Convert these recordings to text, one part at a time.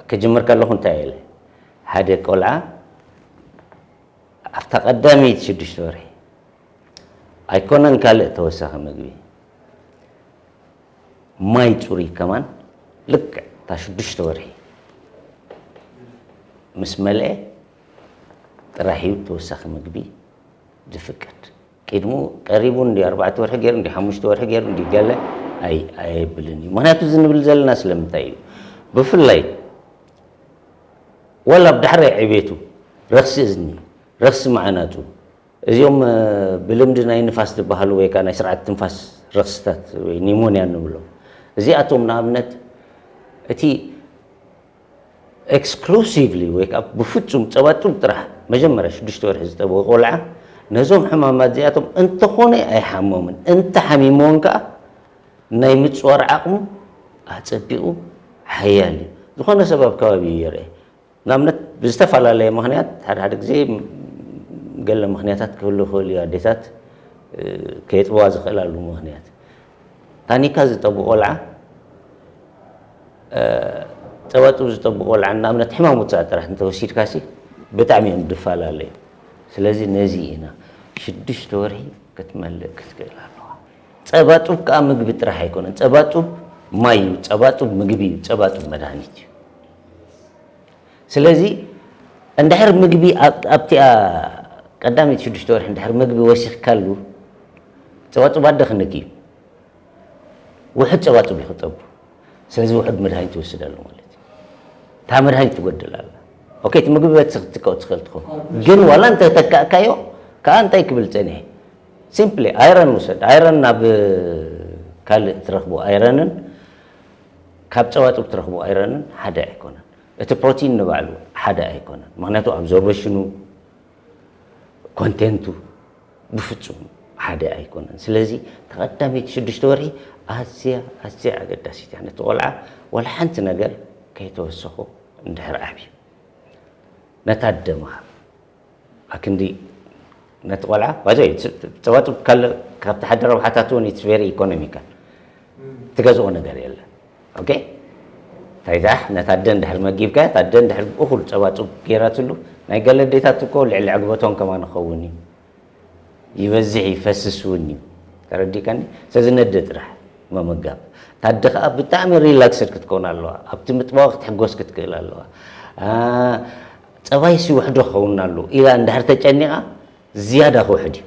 ክጅምር ከለኹ እንታይ ኢለ ሓደ ቆልዓ ኣብታ ቀዳመይቲ ሽዱሽተ ወርሒ ኣይኮነን ካልእ ተወሳኺ ምግቢ ማይ ፅሩይ ከማን ልክዕ እታ ሽዱሽተ ወርሒ ምስ መልአ ጥራሕ እዩ ተወሳኺ ምግቢ ዝፍቀድ። ቅድሙ ቀሪቡ እንዲ ኣርባዕተ ወርሒ ገይሩ እንዲ ሓሙሽተ ወርሒ ገይሩ እንዲ ገለ ኣየብልን እዩ ምክንያቱ እዚ ንብል ዘለና ስለምንታይ እዩ ብፍላይ ወላ ኣብ ዳሕራይ ዕቤቱ ረኽሲ እዝኒ ረኽሲ መዓናጡ እዚኦም ብልምዲ ናይ ንፋስ ዝበሃሉ ወይ ከዓ ናይ ስርዓት ትንፋስ ረኽስታት ወይ ኒሞንያ ንብሎም እዚኣቶም ንኣብነት እቲ ኤክስክሉሲቭሊ ወይ ከኣ ብፍጹም ጸባ ጡብ ጥራሕ መጀመርያ ሽዱሽተ ወርሒ ዝጠበወ ቆልዓ ነዞም ሕማማት እዚኣቶም እንተኾነ ኣይሓሞምን፣ እንተ ሓሚምዎን ከኣ ናይ ምጽዋር ዓቕሙ ኣጸቢቑ ሓያል እዩ። ዝኾነ ሰብ ኣብ ከባቢኡ ይርኤ። ንኣብነት ብዝተፈላለየ ምኽንያት ሓደ ሓደ ግዜ ገለ ምኽንያታት ክህሉ ይኽእል እዩ ኣዴታት ከየጥብዋ ዝኽእላሉ ምኽንያት ታኒካ ዝጠቡ ቆልዓ፣ ጸባጽብ ዝጠቡ ቆልዓ ንኣብነት ሕማም ውጽኣት ጥራሕ እንተወሲድካሲ ብጣዕሚ እዮም ድፋላለዩ ስለዚ ነዚ ኢና ሽዱሽተ ወርሒ ክትመልእ ክትክእል ኣለዋ ጸባጹብ ከኣ ምግቢ ጥራሕ ኣይኮነን ጸባጹብ ማይ እዩ ጸባጹብ ምግቢ እዩ ጸባጹብ መድሃኒት እዩ ስለዚ እንድሕር ምግቢ ኣብቲኣ ቀዳመይቲ ሽዱሽተ ወርሒ እንድሕር ምግቢ ወሲኽካሉ ጸባጹብ ኣደ ክንክ እዩ ውሑድ ጸባ ጥቢ ክጠቡ ስለዚ ውሑድ መድሃኒት ይወስድ ኣሎ ማለት እዩ እታ መድሃኒት ትጎድል ኣላ ኦኬ እቲ ምግቢ በቲ ክትጥቀው ትኽእል ትኾን ግን ዋላ እንተ ተካእካዮ ከዓ እንታይ ክብል ጸኒሐ ሲምፕሊ ኣይረን ውሰድ ኣይረን ናብ ካልእ ትረኽቡ ኣይረንን ካብ ጸባ ጥብ ትረኽቡ ኣይረንን ሓደ ኣይኮነን እቲ ፕሮቲን ንባዕሉ ሓደ ኣይኮነን ምክንያቱ ኣብዞርበሽኑ ኮንቴንቱ ብፍጹም ሓደ ኣይኮነን። ስለዚ እታ ቀዳመይቲ ሽዱሽተ ወርሒ ኣዝያ ኣዝያ ኣገዳሲት እያ። ነቲ ቆልዓ ዋላ ሓንቲ ነገር ከይተወሰኹ እንድሕር ዓብዩ ነታ ኣደ ምሃብ ኣክንዲ ነቲ ቆልዓ ባይዘ ጸባጡ ካብቲ ሓደ ረብሓታት እውን ኢትስ ቬሪ ኢኮኖሚካል ትገዝኦ ነገር የለን። ኦኬ እንታይ ደኣ ነታ ኣደ እንድሕር መጊብካያ እታ ኣደ እንድሕር እኹል ጸባ ጹብ ገይራትሉ ናይ ገለ ኣዴታት እኮ ልዕሊ ዕግበቶም ከማን ይኸውን እዩ ይበዝሕ ይፈስስ እውን እዩ ተረዲእካኒ ስለዚ ነደ ጥራሕ ምምጋብ እታ ኣደ ከዓ ብጣዕሚ ሪላክስድ ክትከውን ኣለዋ ኣብቲ ምጥባዋ ክትሕጎስ ክትክእል ኣለዋ ፀባይሲ ውሕዶ ክኸውን ኣሉ ኢላ እንድሕር ተጨኒቓ ዝያዳ ክውሕድ እዩ።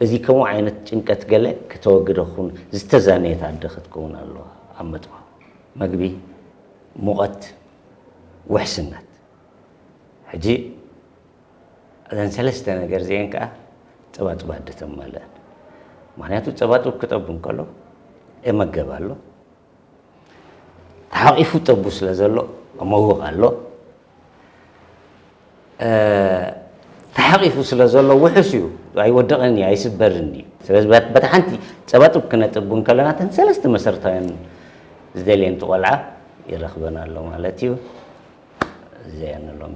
እዚ ከምኡ ዓይነት ጭንቀት ገለ ክተወግደ ክኹን ዝተዛነየት ኣደ ክትከውን ኣለዋ ኣብ መጥባው መግቢ ሙቐት ውሕስነት ሕጂ እዘን ሰለስተ ነገር እዚኤን ከኣ ጸባጽብ ኣደ ተማልእን ምክንያቱ ጸባጽብ ክጠቡ እንከሎ እመገብ ኣሎ ተሓቂፉ ጠቡ ስለ ዘሎ መውቕ ኣሎ ተሓቂፉ ስለ ዘሎ ውሑስ እዩ ኣይወደቐን እዩ ኣይስበርን እዩ ስለዚ በታ ሓንቲ ፀባጥብ ክነጥብ ከለና ተን ሰለስተ መሰረታውያን ዝደልየን ቆልዓ ይረኽበና ኣሎ ማለት እዩ እዚኣ ንሎሚ